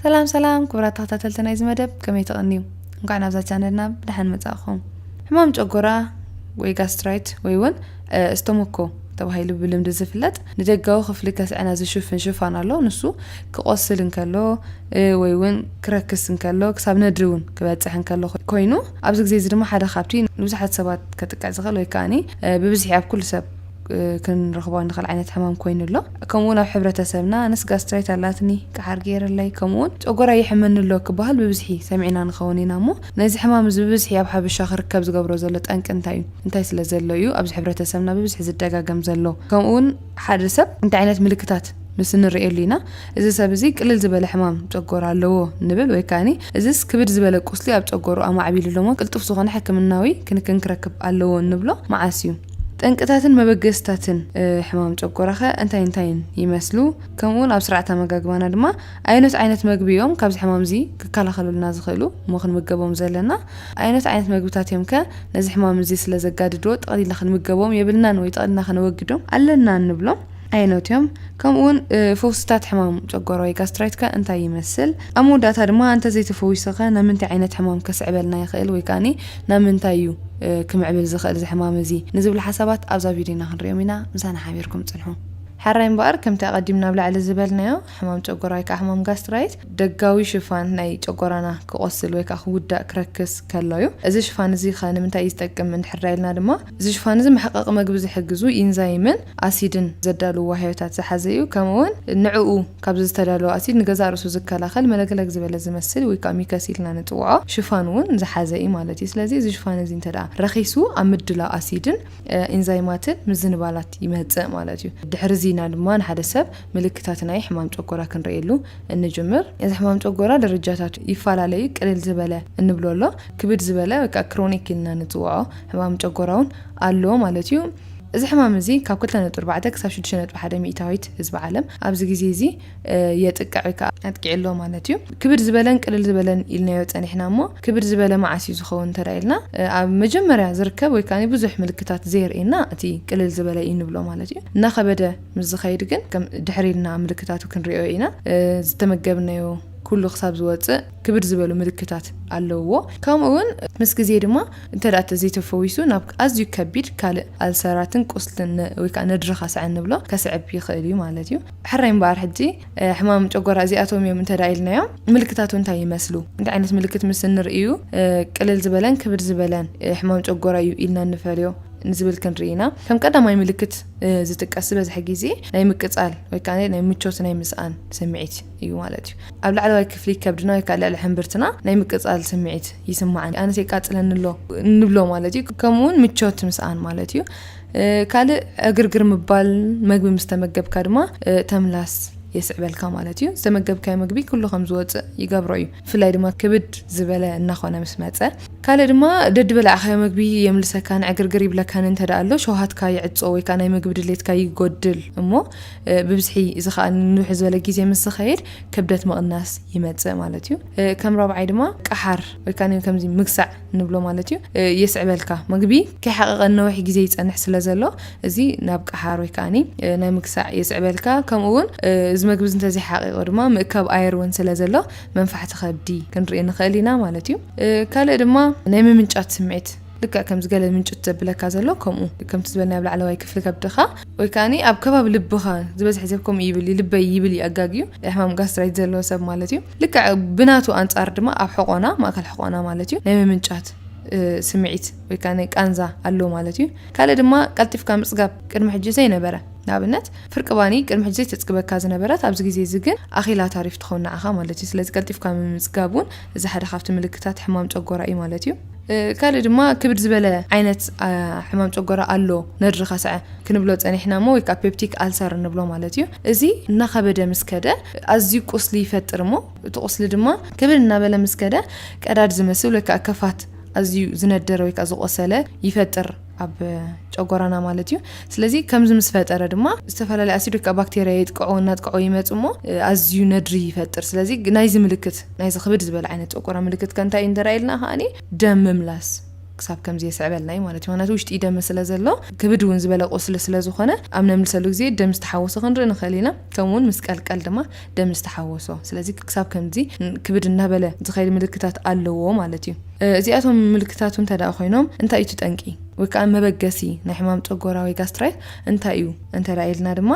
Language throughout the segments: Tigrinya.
ሰላም ሰላም ክቡራት ተኸታተልቲ ናይዚ መደብ ከመይ ተቐንዩ እንኳዕ ናብዛ ቻነልና ብደሓን መጻእኹም ሕማም ጨጎራ ወይ ጋስትራይት ወይ እውን እስተሞኮ ተባሂሉ ብልምዲ ዝፍለጥ ንደጋዊ ክፍሊ ከስዐና ዝሽፍን ሽፋን ኣሎ ንሱ ክቆስል እንከሎ ወይ እውን ክረክስ እንከሎ ክሳብ ነድሪ እውን ክበፅሕ እንከሎ ኮይኑ ኣብዚ ግዜ እዚ ድማ ሓደ ካብቲ ንብዙሓት ሰባት ከጥቅዕ ዝኽእል ወይ ከዓኒ ብብዝሒ ኣብ ኩሉ ሰብ ክንረኽቦ እንኽእል ዓይነት ሕማም ኮይኑ ኣሎ ከምኡ ውን ኣብ ሕብረተሰብና ኣነስ ጋስትራይት ኣላትኒ ቀሓር ገይረለይ ከምኡ ውን ጨጎራይ የሕመኒ ኣሎ ክበሃል ብብዝሒ ሰሚዕና ንኸውን ኢና እሞ ነዚ ሕማም እዚ ብብዝሒ ኣብ ሓበሻ ክርከብ ዝገብሮ ዘሎ ጠንቂ እንታይ እዩ እንታይ ስለ ዘሎ እዩ ኣብዚ ሕብረተሰብና ብብዝሒ ዝደጋገም ዘሎ ከምኡ ውን ሓደ ሰብ እንታይ ዓይነት ምልክታት ምስ እንርእየሉ ኢና እዚ ሰብ እዚ ቅልል ዝበለ ሕማም ጨጎራ ኣለዎ ንብል ወይ ከዓኒ እዚስ ክብድ ዝበለ ቁስሊ ኣብ ጨጎሩ ኣማዕቢሉ ኣሎሞ ቅልጡፍ ዝኾነ ሕክምናዊ ክንክን ክረክብ ኣለዎ እንብሎ መዓስ እዩ ጠንቅታትን መበገስታትን ሕማም ጨጎራኸ እንታይ እንታይን ይመስሉ? ከምኡውን ኣብ ስርዓት ኣመጋግባና ድማ ኣየኖት ዓይነት መግቢ እዮም ካብዚ ሕማም እዚ ክከላኸሉልና ዝኽእሉ እሞ ክንምገቦም ዘለና? ኣየኖት ዓይነት መግብታት እዮም ከ ነዚ ሕማም እዚ ስለ ዘጋድድዎ ጠቕሊልና ክንምገቦም የብልናን ወይ ጠቕሊልና ከነወግዶም ኣለና እንብሎም? ዓይነት እዮም፣ ከምኡውን ፈውስታት ሕማም ጨጎራ ወይ ጋስትራይት ከ እንታይ ይመስል? ኣብ መወዳእታ ድማ እንተ ዘይተፈዊሱ ከ ናብ ምንታይ ዓይነት ሕማም ከስዕበልና ይኽእል ወይ ከኣ ናብ ምንታይ እዩ ክምዕብል ዝኽእል እዚ ሕማም እዚ ንዝብሉ ሓሳባት ኣብዛ ቪድዮና ክንሪኦም ኢና፣ ምሳና ሓቢርኩም ጽንሑ። ሕራይ እምበኣር ከምቲ ኣቐዲምና ኣብ ላዕሊ ዝበልናዮ ሕማም ጨጎራ ወይ ከኣ ሕማም ጋስትራይት ደጋዊ ሽፋን ናይ ጨጎራና ክቖስል ወይ ከኣ ክውዳእ ክረክስ ከሎ እዩ። እዚ ሽፋን እዚ ከ ንምንታይ እዩ ዝጠቅም እንድሕር ኢልና ድማ እዚ ሽፋን እዚ መሕቐቒ መግቢ ዝሕግዙ ኢንዛይምን ኣሲድን ዘዳልዉ ዋህዮታት ዝሓዘ እዩ፣ ከምኡውን ንዕኡ ካብዚ ዝተዳለወ ኣሲድ ንገዛእ ርእሱ ዝከላኸል መለግለግ ዝበለ ዝመስል ወይ ከኣ ሚከስ ኢልና ንጽውዖ ሽፋን እውን ዝሓዘ እዩ ማለት እዩ። ስለዚ እዚ ሽፋን እዚ እንተድኣ ረኺሱ ኣብ ምድላው ኣሲድን ኢንዛይማትን ምዝንባላት ይመጽእ ማለት እዩ። ድሕሪ እዚ ኢና ድማ ንሓደ ሰብ ምልክታት ናይ ሕማም ጨጎራ ክንርእየሉ እንጅምር። እዚ ሕማም ጨጎራ ደረጃታቱ ይፈላለ እዩ፣ ቅልል ዝበለ እንብሎ ኣሎ፣ ክብድ ዝበለ ወይ ከኣ ክሮኒክ ኢልና ንጽውዖ፣ ሕማም ጨጎራውን ኣሎ ማለት እዩ። እዚ ሕማም እዚ ካብ ክልተ ነጥቢ ኣርባዕተ ክሳብ ሽዱሽተ ነጥቢ ሓደ ሚእታዊት ህዝቢ ዓለም ኣብዚ ግዜ እዚ የጥቅዕ ወይ ከዓ ኣጥቂዑ ኣሎ ማለት እዩ። ክብድ ዝበለን ቅልል ዝበለን ኢልናዮ ፀኒሕና እሞ ክብድ ዝበለ መዓስ እዩ ዝኸውን እንተድኣ ኢልና ኣብ መጀመርያ ዝርከብ ወይ ከዓ ብዙሕ ምልክታት ዘየርእየና እቲ ቅልል ዝበለ እዩ ንብሎ ማለት እዩ። እናኸበደ ምስ ዝኸይድ ግን ከም ድሕር ኢልና ምልክታቱ ክንሪኦ ኢና። ዝተመገብናዮ ኩሉ ክሳብ ዝወፅእ ክብድ ዝበሉ ምልክታት ኣለውዎ። ከምኡ እውን ምስ ግዜ ድማ እንተደኣ ተዘይተፈዊሱ ናብ ኣዝዩ ከቢድ ካልእ ኣልሰራትን ቁስልን ወይ ከኣ ነድሪ ካስዐ እንብሎ ከስዕብ ይኽእል እዩ ማለት እዩ። ሕራይ እምበኣር ሕጂ ሕማም ጨጎራ እዚኣቶም እዮም እንተደኣ ኢልናዮም ምልክታቱ እንታይ ይመስሉ? እንታይ ዓይነት ምልክት ምስ እንርኢ እዩ ቅልል ዝበለን ክብድ ዝበለን ሕማም ጨጎራ እዩ ኢልና እንፈልዮ? ንዝብል ክንርኢ ኢና። ከም ቀዳማይ ምልክት ዝጥቀስ ዝበዝሐ ግዜ ናይ ምቅጻል ወይ ከኣ ናይ ምቾት ናይ ምስኣን ስምዒት እዩ ማለት እዩ ኣብ ላዕለዋይ ክፍሊ ከብድና ወይ ከዓ ልዕሊ ሕምብርትና ናይ ምቅፃል ስምዒት ይስማዓን ኣነስ የቃፅለኒ ኣሎ ንብሎ ማለት እዩ ከምኡውን ምቾት ምስኣን ማለት እዩ ካልእ ዕግርግር ምባል መግቢ ምስ ተመገብካ ድማ ተምላስ የስዕበልካ ማለት እዩ ዝተመገብካዮ መግቢ ኩሉ ከም ዝወፅእ ይገብሮ እዩ ብፍላይ ድማ ክብድ ዝበለ እናኾነ ምስ መፀ ካልእ ድማ ደዲ በላዕካዮ መግቢ የምልሰካን ዕግርግር ይብለካን እንተ ኣሎ ሸውሃትካ ይዕፆ ወይ ከዓ ናይ ምግቢ ድሌትካ ይጎድል እሞ ብብዝሒ እዚ ከዓ ንውሕ ዝበለ ግዜ ምስ ዝኸይድ ክብደት ምቕናስ ይመፅእ ማለት እዩ። ከም ራብዓይ ድማ ቀሓር ወይ ከዓ ከምዚ ምግሳዕ ንብሎ ማለት እዩ የስዕበልካ። ምግቢ ከይሓቐቐ ንነዊሕ ግዜ ይፀንሕ ስለ ዘሎ እዚ ናብ ቀሓር ወይ ከዓ ናይ ምግሳዕ የስዕበልካ። ከምኡ እውን እዚ ምግቢ እዚ እንተዘይሓቒቑ ድማ ምእካብ ኣየር እውን ስለ ዘሎ መንፋሕቲ ከብዲ ክንርኢ ንኽእል ኢና ማለት እዩ። ካልእ ድማ ናይ ምምንጫት ስምዒት ልክዕ ከምዚ ገለ ምንጭት ዘብለካ ዘሎ ከምኡ ከምቲ ዝበልናዮ ኣብ ላዕለዋይ ክፍሊ ከብድኻ ወይ ከኣኒ ኣብ ከባቢ ልብኻ ዝበዝሐ ሰብ ከምኡ ይብል እዩ ልበይ ይብል እዩ ኣጋግዩ ናይ ሕማም ጋስትራይት ዘለዎ ሰብ ማለት እዩ ልክዕ ብናቱ ኣንጻር ድማ ኣብ ሕቆና ማእከል ሕቆና ማለት እዩ ናይ ምምንጫት ስምዒት ወይ ከዓ ናይ ቃንዛ ኣሎ ማለት እዩ ካልእ ድማ ቀልጢፍካ ምጽጋብ ቅድሚ ሕጂ ዘይነበረ ንኣብነት ፍርቂ ባኒ ቅድሚ ሕጂ ዘይተጽግበካ ዝነበረት ኣብዚ ግዜ እዚ ግን ኣኺላ ታሪፍ ትኸውን ንዓኻ ማለት እዩ ስለዚ ቀልጢፍካ ምምጽጋብ እውን እዚ ሓደ ካብቲ ምልክታት ሕማም ጨጎራ እዩ ማለት እዩ ካልእ ድማ ክብድ ዝበለ ዓይነት ሕማም ጨጎራ ኣሎ፣ ነድሪ ከስዐ ክንብሎ ጸኒሕና እሞ ወይ ከኣ ፔፕቲክ ኣልሰር እንብሎ ማለት እዩ። እዚ እናኸበደ ምስ ከደ ኣዝዩ ቁስሊ ይፈጥር እሞ እቲ ቁስሊ ድማ ክብድ እናበለ ምስ ከደ ቀዳድ ዝመስል ወይ ከኣ ከፋት ኣዝዩ ዝነደረ ወይ ከኣ ዝቖሰለ ይፈጥር። ኣብ ጨጎራና ማለት እዩ ስለዚ ከምዚ ምስ ፈጠረ ድማ ዝተፈላለዩ ኣሲዶች ከዓ ባክቴርያ የጥቅዑ እናጥቅዑ ይመፁ እሞ ኣዝዩ ነድሪ ይፈጥር ስለዚ ናይዚ ምልክት ናይዚ ክብድ ዝበለ ዓይነት ጨጎራ ምልክት ከንታይ እዩ እንተረኣየልና ከዓኒ ደም ምምላስ ክሳብ ከምዚ የስዕበልና እዩ ማለት እዩ ምክንያቱ ውሽጢ ደመ ስለ ዘሎ ክብድ እውን ዝበለ ቁስሊ ስለ ዝኾነ ኣብ ነምልሰሉ ግዜ ደም ዝተሓወሶ ክንርኢ ንኽእል ኢና ከምኡውን ምስ ቀልቀል ድማ ደም ዝተሓወሶ። ስለዚ ክሳብ ከምዚ ክብድ እናበለ ዝኸይድ ምልክታት ኣለዎ ማለት እዩ። እዚኣቶም ምልክታቱ እንተደኣ ኮይኖም እንታይ እዩ እቲ ጠንቂ ወይ ከኣ መበገሲ ናይ ሕማም ጨጎራ ወይ ጋስትራይት እንታይ እዩ እንተደኣ ኢልና ድማ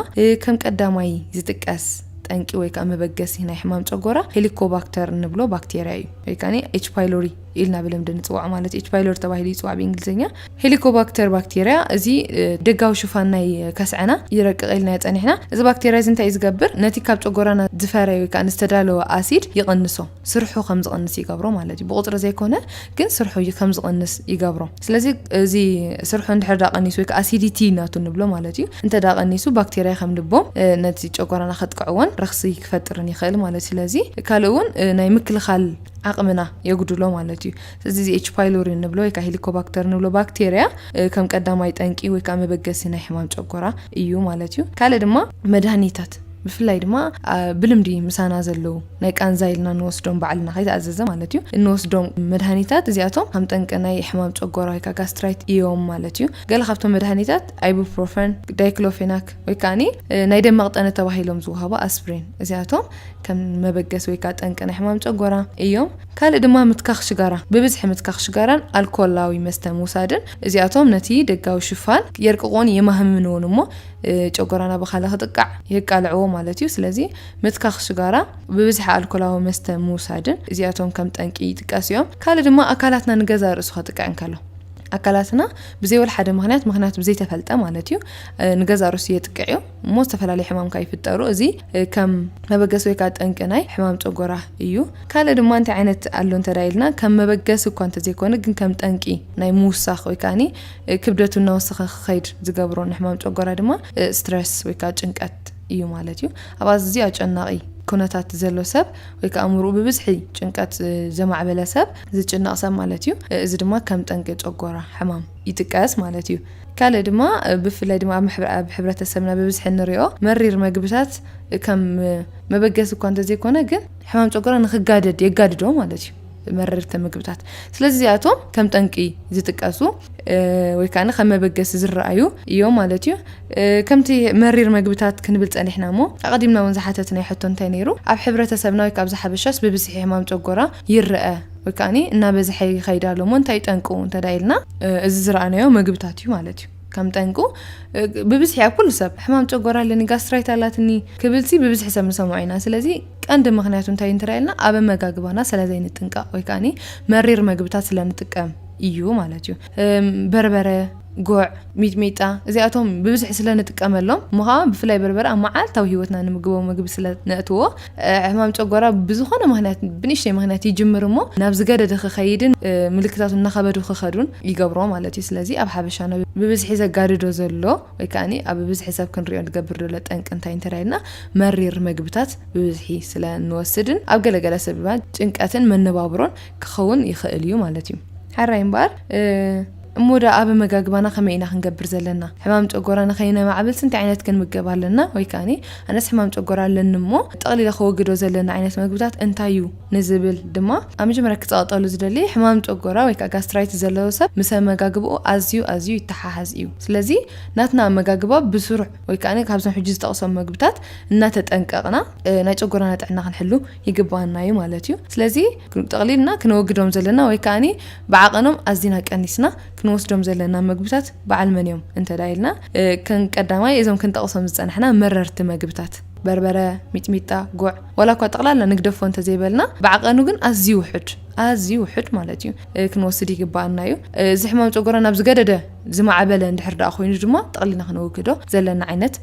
ከም ቀዳማይ ዝጥቀስ ጠንቂ ወይ ከኣ መበገሲ ናይ ሕማም ጨጎራ ሄሊኮባክተር እንብሎ ባክቴርያ እዩ ወይ ከኣ ኤች ፓይሎሪ ኢልና ብልምዲ ንፅዋዕ ማለት ኤች ፓይሎሪ ተባሂሉ ይፅዋዕ ብእንግሊዝኛ ሄሊኮባክተር ባክቴርያ እዚ ደጋዊ ሽፋን ናይ ከስዐና ይረቅቕ ኢልናዮ ፀኒሕና እዚ ባክቴርያ እዚ እንታይ ዝገብር ነቲ ካብ ጨጎራና ዝፈረየ ወይ ከዓ ዝተዳለወ ኣሲድ ይቕንሶ ስርሑ ከም ዝቕንስ ይገብሮ ማለት እዩ ብቁፅሪ ዘይኮነ ግን ስርሑ ከም ዝቕንስ ይገብሮ ስለዚ እዚ ስርሑ እንድሕር ዳ ቀኒሱ ወይ ከዓ ኣሲዲቲ ናቱ ንብሎ ማለት እዩ እንተ ዳ ቀኒሱ ባክቴርያ ከም ልቦም ነቲ ጨጎራና ከጥቅዕዎን ረኽሲ ክፈጥርን ይኽእል ማለት ስለዚ ካልእ እውን ናይ ምክልኻል ዓቕምና የጉድሎ ማለት እዩ እዚ እዚ ኤች ፓይሎሪ እንብሎ ወይ ከዓ ሄሊኮባክተር እንብሎ ባክቴርያ ከም ቀዳማይ ጠንቂ ወይ ከዓ መበገሲ ናይ ሕማም ጨጎራ እዩ ማለት እዩ ካልእ ድማ መድሃኒታት ብፍላይ ድማ ብልምዲ ምሳና ዘለዉ ናይ ቃንዛ ኢልና እንወስዶም ባዕልና ከይተኣዘዘ ማለት እዩ እንወስዶም መድሃኒታት እዚኣቶም ከም ጠንቂ ናይ ሕማም ጨጎራ ወይ ከዓ ጋስትራይት እዮም ማለት እዩ ገለ ካብቶም መድሃኒታት ኣይቡፕሮፈን ዳይክሎፌናክ ወይ ከዓኒ ናይ ደም መቕጠነ ተባሂሎም ዝውሃቡ ኣስፕሪን እዚኣቶም ከም መበገሲ ወይ ከኣ ጠንቂ ናይ ሕማም ጨጎራ እዮም። ካልእ ድማ ምትካኽ ሽጋራ፣ ብብዝሒ ምትካኽ ሽጋራን ኣልኮላዊ መስተ ምውሳድን፣ እዚኣቶም ነቲ ደጋዊ ሽፋን የርቅቕዎን የማህምንዎን እሞ ጨጎራና ብካለ ክጥቃዕ የቃልዕዎ ማለት እዩ። ስለዚ ምትካኽ ሽጋራ፣ ብብዝሒ ኣልኮላዊ መስተ ምውሳድን እዚኣቶም ከም ጠንቂ ይጥቀሱ እዮም። ካልእ ድማ ኣካላትና ንገዛእ ርእሱ ከጥቅዕ እንከሎ፣ ኣካላትና ብዘይ ወልሓደ ምክንያት ምክንያት ብዘይተፈልጠ ማለት እዩ ንገዛእ ርእሱ የጥቅዕ እዩ። እሞ ዝተፈላለዩ ሕማም ከኣ ይፍጠሩ። እዚ ከም መበገሲ ወይ ከኣ ጠንቂ ናይ ሕማም ጨጎራ እዩ። ካልእ ድማ እንታይ ዓይነት ኣሎ እንተ ኢልና ከም መበገሲ እኳ እንተዘይኮነ ግን ከም ጠንቂ ናይ ምውሳኽ ወይ ከኣ ክብደቱ እናወሰኸ ክኸይድ ዝገብሮ ንሕማም ጨጎራ ድማ ስትረስ ወይ ከኣ ጭንቀት እዩ ማለት እዩ። ኣብ ኣዝዩ ኣጨናቒ ኩነታት ዘሎ ሰብ ወይ ከኣ ኣእምሮኡ ብብዝሒ ጭንቀት ዘማዕበለ ሰብ ዝጭነቕ ሰብ ማለት እዩ። እዚ ድማ ከም ጠንቂ ጨጎራ ሕማም ይጥቀስ ማለት እዩ። ካልእ ድማ ብፍላይ ድማ ኣብ ሕብረተሰብና ብብዝሒ እንሪኦ መሪር መግብታት ከም መበገሲ እኳ እንተዘይኮነ ግን ሕማም ጨጎራ ንክጋደድ የጋድዶ ማለት እዩ። መረርቲ ምግብታት ስለዚ እዚኣቶም ከም ጠንቂ ዝጥቀሱ ወይ ከዓ ከም መበገሲ ዝረኣዩ እዮም ማለት እዩ ከምቲ መሪር መግብታት ክንብል ፀኒሕና እሞ ኣቐዲምና እውን ዝሓተትናዮ ሕቶ እንታይ ነይሩ ኣብ ሕብረተሰብና ወይ ካብዚ ሓበሻስ ብብዝሒ ሕማም ጨጎራ ይረአ ወይ ከኣኒ እናበዝሐ ይኸይድ ኣሎ እሞ እንታይ እዩ ጠንቁ እንተዳ ኢልና እዚ ዝረኣናዮ መግብታት እዩ ማለት እዩ ከም ጠንቁ ብብዝሒ ኣብ ኩሉ ሰብ ሕማም ጨጎራ ኣለኒ ጋስትራይት ኣላትኒ ክብልሲ ብብዝሒ ሰብ ንሰምዖ ኢና ስለዚ ቀንዲ ምክንያቱ እንታይ እንተዳ ኢልና ኣብ ኣመጋግባና ስለዘይንጥንቀቕ ወይ ከኣኒ መሪር መግብታት ስለንጥቀም እዩ ማለት እዩ በርበረ፣ ጉዕ፣ ሚጥሚጣ እዚኣቶም ብብዝሒ ስለ ንጥቀመሎም እሞ ኸዓ ብፍላይ በርበረ ኣብ መዓልታዊ ህይወትና ንምግቦ ምግቢ ስለ ነእትዎ ሕማም ጨጓራ ብዝኾነ ምክንያት ብንእሽተይ ምክንያት ይጅምር እሞ ናብ ዝገደደ ክኸይድን ምልክታቱ እናኸበዱ ክኸዱን ይገብሮ ማለት እዩ ስለዚ ኣብ ሓበሻና ብብዝሒ ዘጋድዶ ዘሎ ወይ ከዓኒ ኣብ ብብዝሒ ሰብ ክንሪኦ ንገብር ዘሎ ጠንቂ እንታይ እንተዳይልና መሪር መግብታት ብብዝሒ ስለ እንወስድን ኣብ ገለገለ ሰብ ድማ ጭንቀትን መነባብሮን ክኸውን ይኽእል እዩ ማለት እዩ። ሐራይ እምበኣር እሞ ድኣ ኣብ ኣመጋግባና ከመይ ኢና ክንገብር ዘለና? ሕማም ጨጎራ ንኸይነማዕብልስ እንታይ ዓይነት ክንምገብ ኣለና? ወይ ከኣኒ ኣነስ ሕማም ጨጎራ ኣለኒ እሞ ጠቕሊለ ከወግዶ ዘለኒ ዓይነት መግብታት እንታይ እዩ? ንዝብል ድማ ኣብ መጀመርያ ክጸቕጠሉ ዝደሊ ሕማም ጨጎራ ወይ ከኣ ጋስትራይት ዘለዎ ሰብ ምስ ኣመጋግባኡ ኣዝዩ ኣዝዩ ይተሓሓዝ እዩ። ስለዚ ናትና ኣመጋግባ ብስሩዕ ወይ ከኣኒ ካብዞም ሕጂ ዝጠቕሶም መግብታት እናተጠንቀቕና ናይ ጨጎራና ጥዕና ክንሕሉ ይግበኣና እዩ ማለት እዩ። ስለዚ ጠቕሊልና ክነወግዶም ዘለና ወይ ከኣ ብዓቐኖም ኣዚና ቀኒስና ክንወስዶም ዘለና መግብታት በዓል መን እዮም እንተ ኢልና ከም ቀዳማይ እዞም ክንጠቕሶም ዝጸናሕና መረርቲ መግብታት በርበረ፣ ሚጥሚጣ፣ ጉዕ ዋላ እኳ ጠቕላላ ንግደፎ እንተ ዘይበልና ብዓቐኑ ግን ኣዝዩ ውሑድ ኣዝዩ ውሑድ ማለት እዩ ክንወስድ ይግባኣና እዩ እዚ ሕማም ጨጎራ ናብ ዝገደደ ዝማዕበለ እንድሕር ደኣ ኮይኑ ድማ ጠቕሊና ክነወግዶ ዘለና ዓይነት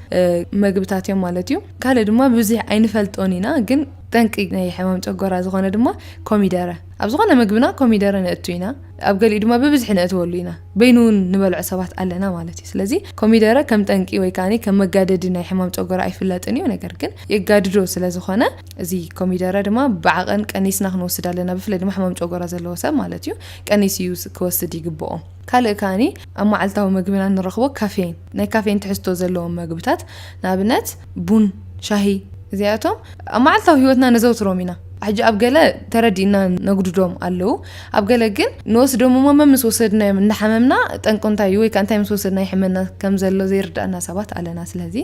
መግብታት እዮም ማለት እዩ ካልእ ድማ ብዙሕ ኣይንፈልጦን ኢና ግን ጠንቂ ናይ ሕማም ጨጎራ ዝኾነ ድማ ኮሚደረ ኣብ ዝኾነ ምግብና ኮሚደረ ነእቱ ኢና ኣብ ገሊኡ ድማ ብብዝሒ ነእትወሉ ኢና በይኑ እውን ንበልዖ ሰባት ኣለና ማለት እዩ ስለዚ ኮሚደረ ከም ጠንቂ ወይ ከዓ ከም መጋደዲ ናይ ሕማም ጨጎራ ኣይፍለጥን እዩ ነገር ግን የጋድዶ ስለ ዝኾነ እዚ ኮሚደረ ድማ ብዓቐን ቀኒስና ክንወስድ ኣለና ብፍላይ ድማ ሕማም ጨጎራ ዘለዎ ሰብ ማለት እዩ ቀኒስ እዩ ክወስድ ይግብኦ ካልእ ከኣ ኣብ መዓልታዊ መግብና ንረኽቦ ካፌይን፣ ናይ ካፌይን ትሕዝቶ ዘለዎም መግብታት፣ ንኣብነት ቡን፣ ሻሂ፣ እዚኣቶም ኣብ መዓልታዊ ህይወትና ነዘውትሮም ኢና። ሕጂ ኣብ ገለ ተረዲእና ነጉድዶም ኣለዉ፣ ኣብ ገለ ግን ንወስዶም እሞ መምስ ወሰድናዮም እንዳሓመምና ጠንቁ እንታይ እዩ ወይ ከኣ እንታይ ምስ ወሰድና ይሕመና ከም ዘሎ ዘይርድኣና ሰባት ኣለና። ስለዚ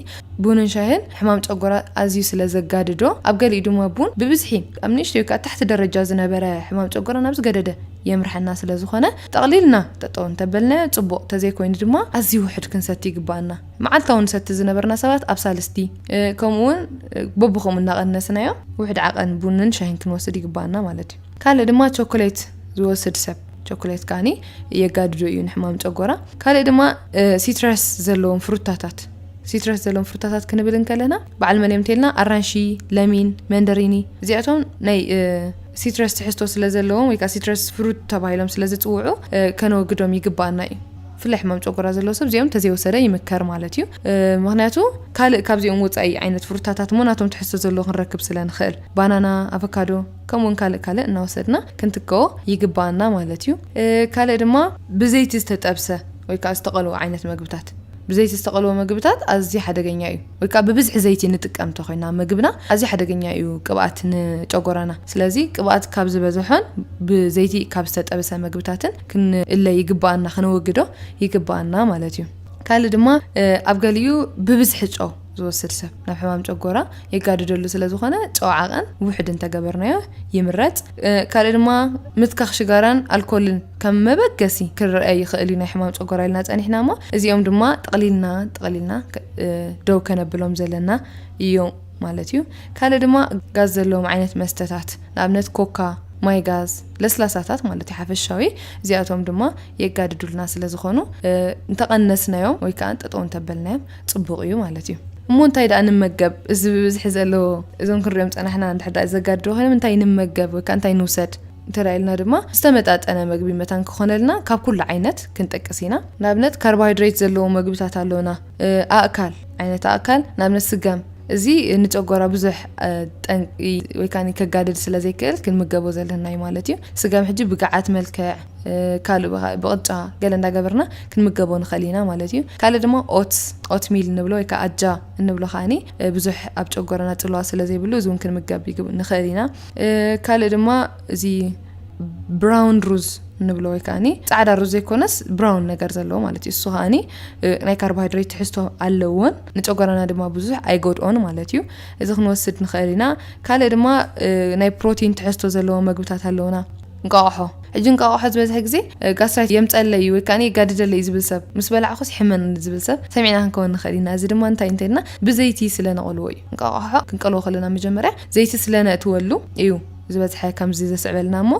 ቡንን ሻሂን ሕማም ጨጎራ ኣዝዩ ስለ ዘጋድዶ ኣብ ገሊኡ ድማ ቡን ብብዝሒ ኣብ ንእሽተዩ ከኣ ታሕቲ ደረጃ ዝነበረ ሕማም ጨጎራ ናብ ዝገደደ የምርሓና ስለ ዝኾነ ጠቕሊልና ጠጠው እንተበልናዮ ጽቡቕ፣ ተዘይኮይኑ ድማ ኣዝዩ ውሑድ ክንሰቲ ይግብኣና። መዓልታዊ ንሰቲ ዝነበርና ሰባት ኣብ ሳልስቲ፣ ከምኡ'ውን በብኸምኡ እናቐነስናዮ ውሑድ ዓቐን ቡንን ሻሂን ክንወስድ ይግብኣና ማለት እዩ። ካልእ ድማ ቸኮሌት ዝወስድ ሰብ፣ ቸኮሌት ከኣ የጋድዶ እዩ ንሕማም ጨጎራ። ካልእ ድማ ሲትረስ ዘለዎም ፍሩታታት፣ ሲትረስ ዘለዎም ፍሩታታት ክንብል እንከለና በዓል መን እዮም እንተይልና ኣራንሺ፣ ለሚን፣ መንደሪኒ እዚኣቶም ናይ ሲትረስ ትሕዝቶ ስለ ዘለዎም ወይ ከዓ ሲትረስ ፍሩት ተባሂሎም ስለ ዝፅውዑ ከነወግዶም ይግባኣና እዩ ብፍላይ ሕማም ጨጎራ ዘለዎ ሰብ እዚኦም ተዘይወሰደ ይምከር ማለት እዩ ምክንያቱ ካልእ ካብዚኦም ወፃኢ ዓይነት ፍሩታታት እሞ ናቶም ትሕዝቶ ዘለዎ ክንረክብ ስለ ንኽእል ባናና ኣቮካዶ ከምኡውን ካልእ ካልእ እናወሰድና ክንትከዎ ይግባኣና ማለት እዩ ካልእ ድማ ብዘይቲ ዝተጠብሰ ወይ ከዓ ዝተቐልዎ ዓይነት መግብታት ብዘይቲ ዝተቐልወ መግብታት ኣዝዩ ሓደገኛ እዩ ወይ ከኣ ብብዝሒ ዘይቲ ንጥቀም እንተኾይና መግብና ኣዝዩ ሓደገኛ እዩ ቅብኣት ንጨጎራና ስለዚ ቅብኣት ካብ ዝበዘሖን ብዘይቲ ካብ ዝተጠብሰ መግብታትን ክንእለ ይግብኣና ከነወግዶ ይግብኣና ማለት እዩ ካልእ ድማ ኣብ ገሊኡ ብብዝሒ ጨው ዝወስድ ሰብ ናብ ሕማም ጨጎራ የጋድደሉ ስለ ዝኾነ ጨው ዓቐን ውሕድ እንተገበርናዮ ይምረፅ። ካልእ ድማ ምትካኽ ሽጋራን ኣልኮልን ከም መበገሲ ክረኣ ይኽእል እዩ ናይ ሕማም ጨጎራ ኢልና ፀኒሕና እሞ እዚኦም ድማ ጠቕሊልና ጠቕሊልና ደው ከነብሎም ዘለና እዩ ማለት እዩ። ካልእ ድማ ጋዝ ዘለዎም ዓይነት መስተታት ንኣብነት ኮካ ማይ ጋዝ ለስላሳታት ማለት እዩ ሓፈሻዊ እዚኣቶም ድማ የጋድዱልና ስለ ዝኾኑ እንተቐነስናዮም ወይ ከዓ ጠጠው እንተበልናዮም ጽቡቕ እዩ ማለት እዩ። እሞ እንታይ ደኣ ንመገብ? እዚ ብብዝሒ ዘሎ እዞም ክንሪኦም ዝጸናሕና እንድሕር ደኣ ዘጋድዱ ኮይኖም እንታይ ንመገብ ወይ ከኣ እንታይ ንውሰድ እንተ ኢልና ድማ ዝተመጣጠነ መግቢ መታን ክኾነልና ካብ ኩሉ ዓይነት ክንጠቅስ ኢና። ንኣብነት ካርቦሃይድሬት ዘለዎ መግብታት ኣሎና፣ ኣእካል ዓይነት ኣእካል ንኣብነት ስገም እዚ ንጨጎራ ብዙሕ ጠንቂ ወይ ከኣ ከጋድድ ስለ ዘይክእል ክንምገቦ ዘለናዩ ማለት እዩ። ስገም ሕጂ ብገዓት መልክዕ፣ ካልእ ብካእ ብቅጫ ገለ እንዳገበርና ክንምገቦ ንክእል ኢና ማለት እዩ ካልእ ድማ ኦትስ ኦት ሚል እንብሎ ወይ ከዓ ኣጃ እንብሎ ከዓኒ ብዙሕ ኣብ ጨጎረና ፅልዋ ስለ ዘይብሉ እዚውን ክንምገብ ንክእል ኢና ካልእ ድማ እዚ ብራውን ሩዝ ንብሎ ወይ ከዓኒ ፃዕዳ ሩዝ ዘይኮነስ ብራውን ነገር ዘለዎ ማለት እዩ እሱ ከዓኒ ናይ ካርቦሃይድሬት ትሕዝቶ ኣለዎን ንጨጓራና ድማ ብዙሕ ኣይጎድኦን ማለት እዩ እዚ ክንወስድ ንኽእል ኢና ካልእ ድማ ናይ ፕሮቲን ትሕዝቶ ዘለዎ መግብታት ኣለውና እንቋቑሖ፣ ሕጂ እንቋቑሖ ዝበዝሐ ግዜ ጋስትራይት የምጸለይ እዩ ወይ ከኣ የጋድደለይ እዩ ዝብል ሰብ፣ ምስ በላዕኩስ ይሕመኒ ንዝብል ሰብ ሰሚዕና ክንከውን ንኽእል ኢና። እዚ ድማ እንታይ እንተ ኢልና ብዘይቲ ስለ ነቐልዎ እዩ። እንቋቑሖ ክንቀልዎ ከለና መጀመርያ ዘይቲ ስለ ነእትወሉ እዩ ዝበዝሐ ከምዚ ዘስዕበልና እሞ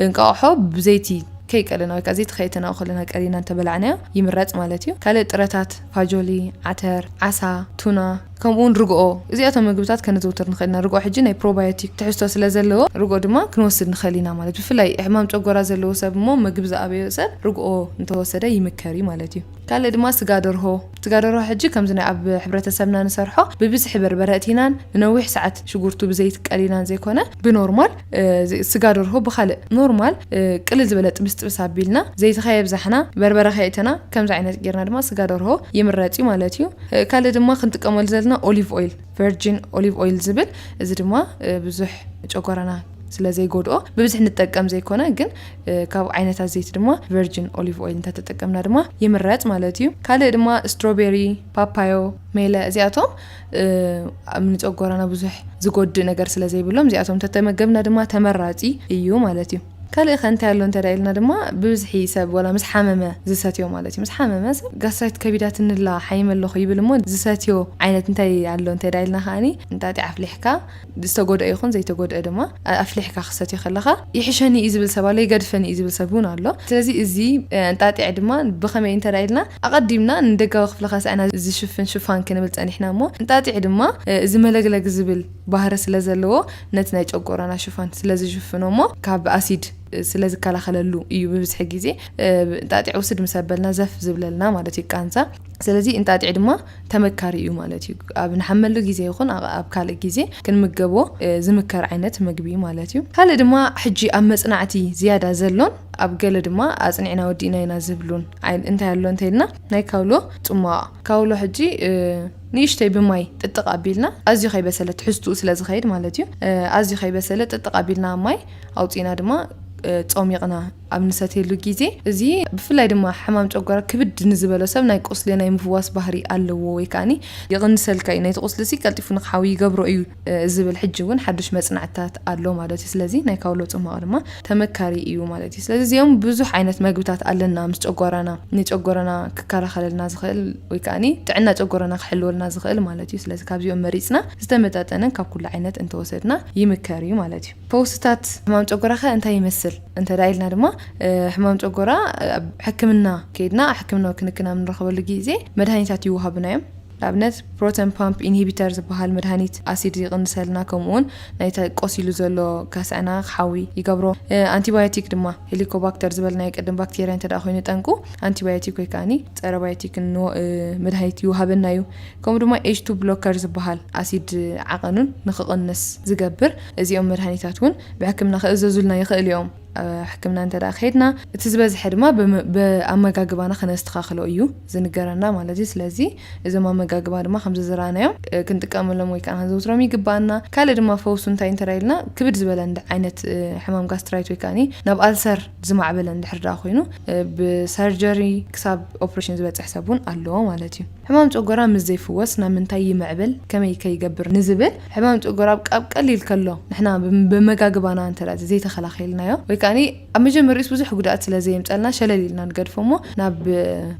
እንቋቑሖ ብዘይቲ ከይቀለና ወይ ከኣ ዘይቲ ከየእተናኡ ከለና ቀሊና እንተ በላዕናዮ ይምረጽ ማለት እዩ። ካልእ ጥረታት። ፋጆሊ፣ ዓተር፣ ዓሳ፣ ቱና፣ ከምኡውን ርግኦ እዚኣቶም መግብታት ከነዘውትር ንኽእል ኢና። ርግኦ ሕጂ ናይ ፕሮባዮቲክ ትሕዝቶ ስለ ዘለዎ ርግኦ ድማ ክንወስድ ንኽእል ኢና ማለት እዩ። ብፍላይ ሕማም ጨጎራ ዘለዎ ሰብ እሞ መግቢ ዝኣበዮ ሰብ ርግኦ እንተወሰደ ይምከር እዩ ማለት እዩ። ካልእ ድማ ስጋ ደርሆ፣ ስጋ ደርሆ ሕጂ ከምዚ ናይ ኣብ ሕብረተሰብና ንሰርሖ ብብዝሒ በርበረ እቲናን ንነዊሕ ሰዓት ሽጉርቱ ብዘይቲ ቀሊናን ዘይኮነ ብኖርማል ስጋ ደርሆ ብኻልእ ኖርማል ቅልል ዝበለ ጥብስ ጥብስ ኣቢልና ዘይቲ ከየብዛሕና በርበረ ከየእተና ከምዚ ዓይነት ጌርና ድማ ስጋ ደርሆ ይምረጽ እዩ ማለት እዩ። ካልእ ድማ ክንጥቀመሉ ዘለና ኦሊቭ ኦይል ቨርጂን ኦሊቭ ኦይል ዝብል እዚ ድማ ብዙሕ ጨጓራና ስለ ዘይጎድኦ ብብዝሒ ንጠቀም ዘይኮነ ግን ካብ ዓይነታት ዘይቲ ድማ ቨርጂን ኦሊቭ ኦይል እንተተጠቀምና ድማ ይምረጽ ማለት እዩ። ካልእ ድማ ስትሮቤሪ፣ ፓፓዮ፣ ሜለ እዚኣቶም ንጨጎራና ብዙሕ ዝጎድእ ነገር ስለ ዘይብሎም እዚኣቶም ተተመገብና ድማ ተመራፂ እዩ ማለት እዩ ካልእ ከ እንታይ ኣሎ እንተ ኢልና ድማ ብብዝሒ ሰብ ወላ ምስ ሓመመ ዝሰትዮ ማለት እዩ ምስ ሓመመ ሰብ ጋስራይት ከቢዳትንላ ሓይመ ኣለኹ ይብል እሞ ዝሰትዮ ዓይነት እንታይ ኣሎ እንተ ኢልና ከዓኒ እንጣጢዕ ኣፍሊሕካ ዝተጎድኣ ይኹን ዘይተጎድኣ ድማ ኣፍሊሕካ ክትሰትዮ ከለኻ ይሕሸኒ እዩ ዝብል ሰብ ኣሎ፣ ይገድፈኒ እዩ ዝብል ሰብ እውን ኣሎ። ስለዚ እዚ እንጣጢዕ ድማ ብኸመይ እዩ እንተ ኢልና ኣቐዲምና ንደጋዊ ክፍሊ ካሳ'ና ዝሽፍን ሽፋን ክንብል ጸኒሕና እሞ እንጣጢዕ ድማ እዚ መለግለግ ዝብል ባህሪ ስለ ዘለዎ ነቲ ናይ ጨጎራና ሽፋን ስለ ዝሽፍኖ እሞ ካብ ኣሲድ ስለ ዝከላኸለሉ እዩ ብብዝሒ ግዜ እንጣጢዕ ውስድ ምስ ኣበልና ዘፍ ዝብለልና ማለት እዩ ቃንዛ። ስለዚ እንጣጢዕ ድማ ተመካሪ እዩ ማለት እዩ። ኣብ ንሓመሉ ግዜ ይኹን ኣብ ካልእ ግዜ ክንምገቦ ዝምከር ዓይነት መግቢ እዩ ማለት እዩ። ካልእ ድማ ሕጂ ኣብ መጽናዕቲ ዝያዳ ዘሎን ኣብ ገለ ድማ ኣጽኒዕና ወዲእናዮ ኢና ዝብሉን እንታይ ኣሎ እንተይልና ናይ ካውሎ ጽሟቕ ካውሎ ሕጂ ንእሽተይ ብማይ ጥጥቕ ኣቢልና ኣዝዩ ከይበሰለ ትሕዝትኡ ስለ ዝኸይድ ማለት እዩ ኣዝዩ ከይበሰለ ጥጥቕ ኣቢልና ኣብ ማይ ኣውጺእና ድማ ጾሚቕና ኣብ ንሰትየሉ ግዜ፣ እዚ ብፍላይ ድማ ሕማም ጨጓራ ክብድ ንዝበሎ ሰብ ናይ ቁስሊ ናይ ምፍዋስ ባህሪ ኣለዎ ወይ ከኣ ይቕንሰልካ እዩ፣ ነቲ ቁስሊ'ሲ ቀልጢፉ ንኽሓዊ ይገብሮ እዩ ዝብል ሕጂ እውን ሓዱሽ መጽናዕትታት ኣሎ ማለት እዩ። ስለዚ ናይ ካውሎ ጽሟቕ ድማ ተመካሪ እዩ ማለት እዩ። ስለዚ እዚኦም ብዙሕ ዓይነት መግብታት ኣለና ምስ ጨጓራና ንጨጎራና ክከላኸለልና ዝኽእል ወይ ከኣ ጥዕና ጨጎራና ክሕልወልና ዝኽእል ማለት እዩ። ስለዚ ካብዚኦም መሪጽና ዝተመጣጠነ ካብ ኩሉ ዓይነት እንተወሰድና ይምከር እዩ ማለት እዩ። ፈውስታት ሕማም ጨጎራኸ እንታይ ይመስል እንተድኣ ኢልና ድማ ሕማም ጨጎራ ኣብ ሕክምና ከይድና ሕክምናዊ ክንክን ኣብ ንረኽበሉ ግዜ መድሃኒታት ይወሃቡና እዮም። ንኣብነት ፕሮተን ፓምፕ ኢንሂቢተር ዝበሃል መድሃኒት ኣሲድ ይቕንሰልና ከምኡውን ናይቲ ቆሲሉ ዘሎ ከስዐና ክሓዊ ይገብሮ። ኣንቲባዮቲክ ድማ ሄሊኮባክተር ዝበልናዮ ቅድም ባክቴርያ እንተድኣ ኮይኑ ጠንቁ ኣንቲባዮቲክ ወይ ከኣኒ ጸረ ባዮቲክ መድሃኒት ይወሃበና እዩ። ከምኡ ድማ ኤች-ቱ ብሎከር ዝበሃል ኣሲድ ዓቐኑን ንክቕንስ ዝገብር እዚኦም መድሃኒታት እውን ብሕክምና ክእዘዙልና ይኽእል እዮም። ኣብ ሕክምና እንተ ከይድና እቲ ዝበዝሐ ድማ ብኣመጋግባና ክነስተኻኽሎ እዩ ዝንገረና ማለት እዩ። ስለዚ እዞም ኣመጋግባ ድማ ከምዚ ዝረኣናዮም ክንጥቀመሎም ወይ ከዓ ክንዘውትሮም ይግበኣና። ካልእ ድማ ፈውሱ እንታይ እንተ ኢልና ክብድ ዝበለ ዓይነት ሕማም ጋስትራይት ወይ ከዓኒ ናብ ኣልሰር ዝማዕበለ እንድሕር ደኣ ኮይኑ ብሰርጀሪ ክሳብ ኦፕሬሽን ዝበፅሕ ሰብ እውን ኣሎ ማለት እዩ። ሕማም ጨጎራ ምስ ዘይፍወስ ናብ ምንታይ ይምዕብል ከመይ ከ ይገብር ንዝብል ሕማም ጨጎራ ኣብ ኣብ ቀሊል ከሎ ንሕና በመጋግባና እንተ ዘይተኸላኺልናዮ ወይ ከኣ ኣብ መጀመርይኡስ ብዙሕ ጉድኣት ስለ ዘየምጸልና ሸለል ኢልና ንገድፎ እሞ ናብ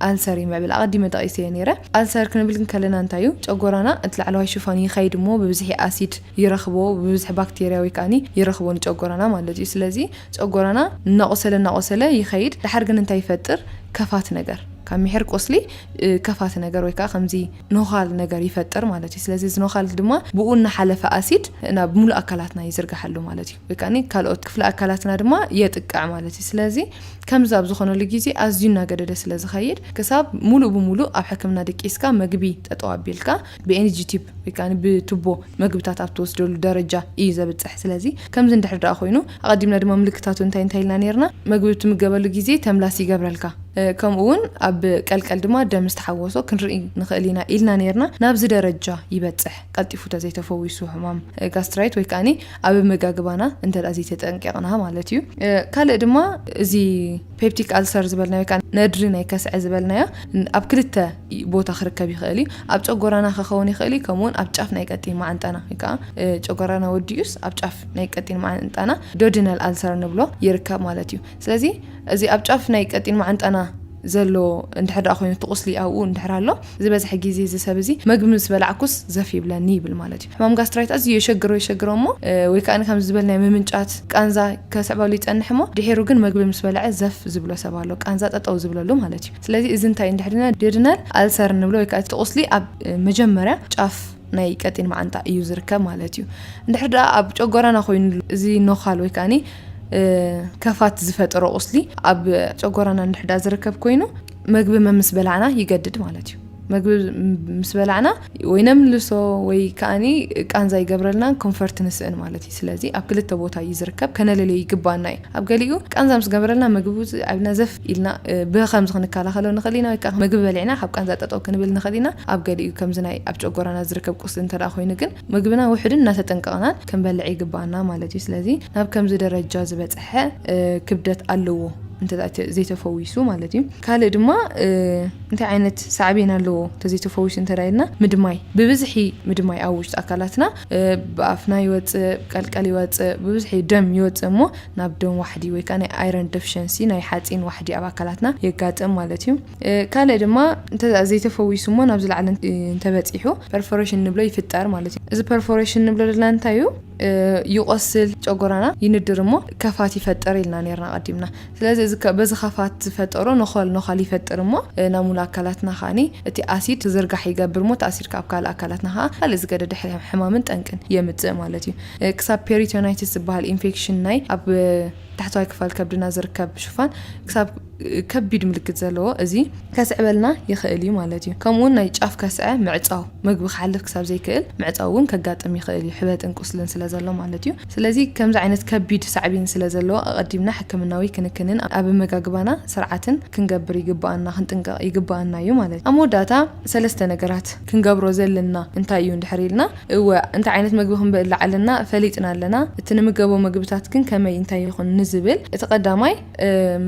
ኣልሰር ይምዕብል ኣቐዲመ ጠቒሰዮ ኔረ ኣልሰር ክንብል እንከለና እንታይ እዩ ጨጎራና እቲ ላዕለዋይ ሽፋን ይኸይድ እሞ ብብዝሒ ኣሲድ ይረኽቦ ብብዝሒ ባክቴርያ ወይ ከኣ ይረኽቦ ንጨጎራና ማለት እዩ ስለዚ ጨጎራና እናቖሰለ እናቖሰለ ይኸይድ ደሓር ግን እንታይ ይፈጥር ከፋት ነገር ካብ ሚሒር ቁስሊ ከፋቲ ነገር ወይ ከኣ ከምዚ ኖኻል ነገር ይፈጥር ማለት እዩ። ስለዚ እዚ ኖኻል እዚ ድማ ብኡ እናሓለፈ ኣሲድ ናብ ምሉእ ኣካላትና ይዝርጋሕ ኣሎ ማለት እዩ። ወይ ከኣ ካልኦት ክፍሊ ኣካላትና ድማ የጥቅዕ ማለት እዩ። ስለዚ ከምዚ ኣብ ዝኾነሉ ግዜ ኣዝዩ እናገደደ ስለ ዝኸይድ ክሳብ ምሉእ ብምሉእ ኣብ ሕክምና ደቂስካ መግቢ ጠጠው ኣቢልካ ብኤንጅ ቲፕ ወይ ከኣ ብቱቦ መግብታት ኣብ ትወስደሉ ደረጃ እዩ ዘብጽሕ። ስለዚ ከምዚ እንድሕር ደኣ ኮይኑ ኣቐዲምና ድማ ምልክታቱ እንታይ እንታይ ኢልና ኔርና መግቢ እትምገበሉ ግዜ ተምላስ ይገብረልካ ከምኡ ውን ኣብ ቀልቀል ድማ ደም ምስ ተሓወሶ ክንርኢ ንኽእል ኢና ኢልና ኔርና። ናብዚ ደረጃ ይበጽሕ ቀልጢፉ ተዘይ ተፈዊሱ ሕማም ጋስትራይት ወይ ከኣ ኣብ ኣመጋግባና እንተ ዘይተጠንቂቕና ማለት እዩ። ካልእ ድማ እዚ ፔፕቲክ ኣልሰር ዝበልናዮ ከኣ ነድሪ ናይ ከስዐ ዝበልናዮ ኣብ ክልተ ቦታ ክርከብ ይኽእል እዩ። ኣብ ጨጎራና ከኸውን ይኽእል እዩ፣ ከምኡውን ኣብ ጫፍ ናይ ቀጢን መዓንጣና ወይ ከኣ ጨጎራና ወዲኡስ ኣብ ጫፍ ናይ ቀጢን መዓንጣና ዶዲናል ኣልሰር ንብሎ ይርከብ ማለት እዩ። ስለዚ እዚ ኣብ ጫፍ ናይ ቀጢን መዓንጣና ዘሎ እንድሕር ደኣ ኮይኑ እቲ ቁስሊ ኣብኡ እንድሕር ኣሎ ዝበዝሐ ግዜ እዚ ሰብ እዚ መግቢ ምስ በላዕኩስ ዘፍ ይብለኒ ይብል ማለት እዩ። ሕማም ጋስትራይት ኣዝዩ የሸግሮ የሸግሮ እሞ ወይ ከኣ ከምዚ ዝበል ናይ ምምንጫት፣ ቃንዛ፣ ከስዕበሉ ይጸንሕ እሞ ድሒሩ ግን መግቢ ምስ በልዐ ዘፍ ዝብሎ ሰብ ኣሎ ቃንዛ ጠጠው ዝብለሉ ማለት እዩ ስለዚ እዚ እንታይ እዩ እንድሕር ኢልና ድዩድናል ኣልሰር እንብሎ ወይ ከኣ እቲ ቁስሊ ኣብ መጀመርያ ጫፍ ናይ ቀጢን መዓንጣ እዩ ዝርከብ ማለት እዩ እንድሕር ደኣ ኣብ ጨጎራና ኮይኑ እዚ ኖኻል ወይ ከኣ ከፋት ዝፈጠሮ ቁስሊ ኣብ ጨጎራና እንድሕር ደኣ ዝርከብ ኮይኑ መግቢ መምስ በላዕና ይገድድ ማለት እዩ መግቢ ምስ በላዕና ወይ ነምልሶ ወይ ከዓኒ ቃንዛ ይገብረልና ኮንፈርት ንስእን ማለት እዩ ስለዚ ኣብ ክልተ ቦታ እዩ ዝርከብ ከነለለዩ ይግባና እዩ ኣብ ገሊኡ ቃንዛ ምስ ገበረልና ምግቢ ኣብና ዘፍ ኢልና ብከምዚ ክንከላኸሎ ንኽእል ኢና ወይ ከዓ ምግቢ በሊዕና ካብ ቃንዛ ጠጠው ክንብል ንኽእል ኢና ኣብ ገሊኡ ከምዚ ናይ ኣብ ጨጎራና ዝርከብ ቁስሊ እንተ ኮይኑ ግን ምግብና ውሑድን እናተጠንቀቕናን ክንበልዕ ይግበኣና ማለት እዩ። ስለዚ ናብ ከምዚ ደረጃ ዝበፀሐ ክብደት ኣለዎ እንተ ዘይተፈዊሱ ማለት እዩ። ካልእ ድማ እንታይ ዓይነት ሳዕቤን ኣለዎ እንተዘይተፈዊሱ እንተ ኢልና ምድማይ ብብዝሒ ምድማይ ኣብ ውሽጢ ኣካላትና ብኣፍና ይወፅእ ቀልቀል ይወፅእ ብብዝሒ ደም ይወፅእ እሞ ናብ ደም ዋሕዲ ወይ ከዓ ናይ ኣይረን ደፍሸንሲ ናይ ሓፂን ዋሕዲ ኣብ ኣካላትና የጋጥም ማለት እዩ። ካልእ ድማ እንተ ዘይተፈዊሱ እሞ ናብ ዝለዓለ እንተበጺሑ ፐርፎሬሽን ንብሎ ይፍጠር ማለት እዩ። እዚ ፐርፎሬሽን ንብሎ ዘለና እንታይ እዩ? ይቖስል ጨጎራና ይንድር እሞ ከፋት ይፈጥር ኢልና ኔርና ኣቐዲምና። ስለዚ እዚ በዚ ከፋት ዝፈጠሮ ነኾል ነዃል ይፈጥር እሞ ናብ ሙሉእ ኣካላትና ከኣ እቲ ኣሲድ ክዝርጋሕ ይገብር እሞ እቲ ኣሲድ ከኣ ኣብ ካልእ ኣካላትና ከኣ ካልእ ዝገደደ ሕማምን ጠንቅን የምጽእ ማለት እዩ። ክሳብ ፔሪቶናይትስ ዝበሃል ኢንፌክሽን ናይ ኣብ ታሕተዋይ ክፋል ከብድና ዝርከብ ሽፋን ክሳብ ከቢድ ምልክት ዘለዎ እዚ ከስዕበልና ይኽእል እዩ ማለት እዩ። ከምኡውን ናይ ጫፍ ከስዐ ምዕጻው፣ መግቢ ክሓልፍ ክሳብ ዘይክእል ምዕጻው እውን ከጋጥም ይኽእል እዩ፣ ሕበጥን ቁስልን ስለ ዘሎ ማለት እዩ። ስለዚ ከምዚ ዓይነት ከቢድ ሳዕቤን ስለ ዘለዎ ኣቐዲምና ሕክምናዊ ክንክንን ኣብ ኣመጋግባና ስርዓትን ክንገብር ይግብኣና፣ ክንጥንቀቕ ይግብኣና እዩ ማለት እዩ። ኣብ መወዳእታ ሰለስተ ነገራት ክንገብሮ ዘለና እንታይ እዩ እንድሕር ኢልና፣ እወ እንታይ ዓይነት መግቢ ክንበልዕ ኣለና ፈሊጥና ኣለና፣ እቲ ንምገቦ መግብታት ግን ከመይ እንታይ ይኹን ንዝብል እቲ ቀዳማይ፣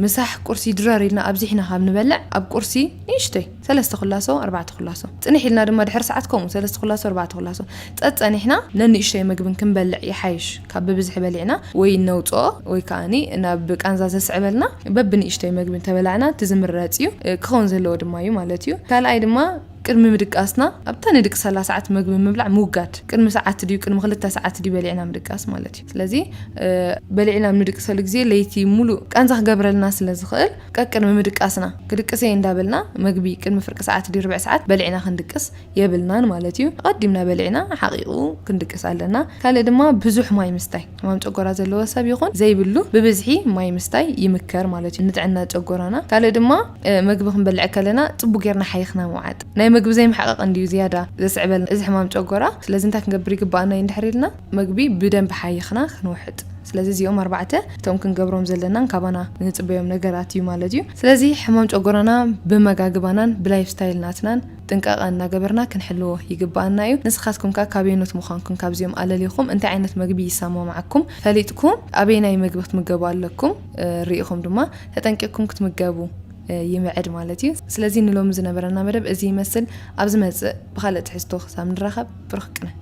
ምሳሕ ቁርሲ ድረር ኢልና ኣብዚሕና ካብ ንበልዕ ኣብ ቁርሲ ንእሽቶይ ሰለስተ ኩላሶ ኣርባዕተ ኩላሶ ጽንሕ ኢልና ድማ ድሕሪ ሰዓት ከምኡ ሰለስተ ኩላሶ ኣርባዕተ ኩላሶ ጸጸኒሕና ነንእሽቶይ መግብን ክንበልዕ ይሓይሽ ካብ ብብዝሒ በሊዕና ወይ ነውጽኦ ወይ ከኣኒ ናብ ቃንዛ ዘስዕበልና በብንእሽቶይ መግቢ እንተበላዕና እቲ ዝምረጽ እዩ ክኸውን ዘለዎ ድማ እዩ ማለት እዩ ካልኣይ ድማ ቅድሚ ምድቃስና ኣብታ ንድቅሰላ ሰዓት መግቢ ምብላዕ ምውጋድ። ቅድሚ ሰዓት ድዩ ቅድሚ ክልተ ሰዓት ድዩ በሊዕና ምድቃስ ማለት እዩ። ስለዚ በሊዕና ኣብ ንድቅሰሉ ግዜ ለይቲ ሙሉእ ቃንዛ ክገብረልና ስለ ዝኽእል ቀቅድሚ ምድቃስና ክድቅስ እየ እንዳበልና መግቢ ቅድሚ ፍርቂ ሰዓት ድዩ ርብዒ ሰዓት በሊዕና ክንድቅስ የብልናን ማለት እዩ። ኣቐዲምና በሊዕና ሓቒቑ ክንድቅስ ኣለና። ካልእ ድማ ብዙሕ ማይ ምስታይ። ሕማም ጨጎራ ዘለዎ ሰብ ይኹን ዘይብሉ ብብዝሒ ማይ ምስታይ ይምከር ማለት እዩ ንጥዕና ጨጎራና። ካልእ ድማ መግቢ ክንበልዕ ከለና ጽቡቕ ጌርና ሓይኽና ምውዓጥ። ናይ መግቢ ዘይምሕቓቕ እንድዩ ዝያዳ ዘስዕበልና እዚ ሕማም ጨጎራ። ስለዚ እንታይ ክንገብር ይግብኣና እዩ እንድሕር ኢልና መግቢ ብደንቢ ሓይኽና ክንውሕጥ። ስለዚ እዚኦም ኣርባዕተ እቶም ክንገብሮም ዘለናን ካባና ንጽበዮም ነገራት እዩ ማለት እዩ። ስለዚ ሕማም ጨጎራና ብመጋግባናን ብላይፍ ስታይል ናትናን። ጥንቃቐ እናገበርና ክንሕልዎ ይግበኣና እዩ። ንስኻትኩም ከ ካበየኖት ምዃንኩም ካብዚኦም ኣለሊኹም እንታይ ዓይነት መግቢ ይሰማማዓኩም ፈሊጥኩም ኣበየናይ መግቢ ክትምገቡ ኣለኩም ሪኢኹም ድማ ተጠንቂቕኩም ክትምገቡ ይምዕድ ማለት እዩ። ስለዚ ንሎሚ ዝነበረና መደብ እዚ ይመስል። ኣብ ዝመጽእ ብኻልእ ትሕዝቶ ክሳብ ንራኸብ ብሩኽ ቅነ።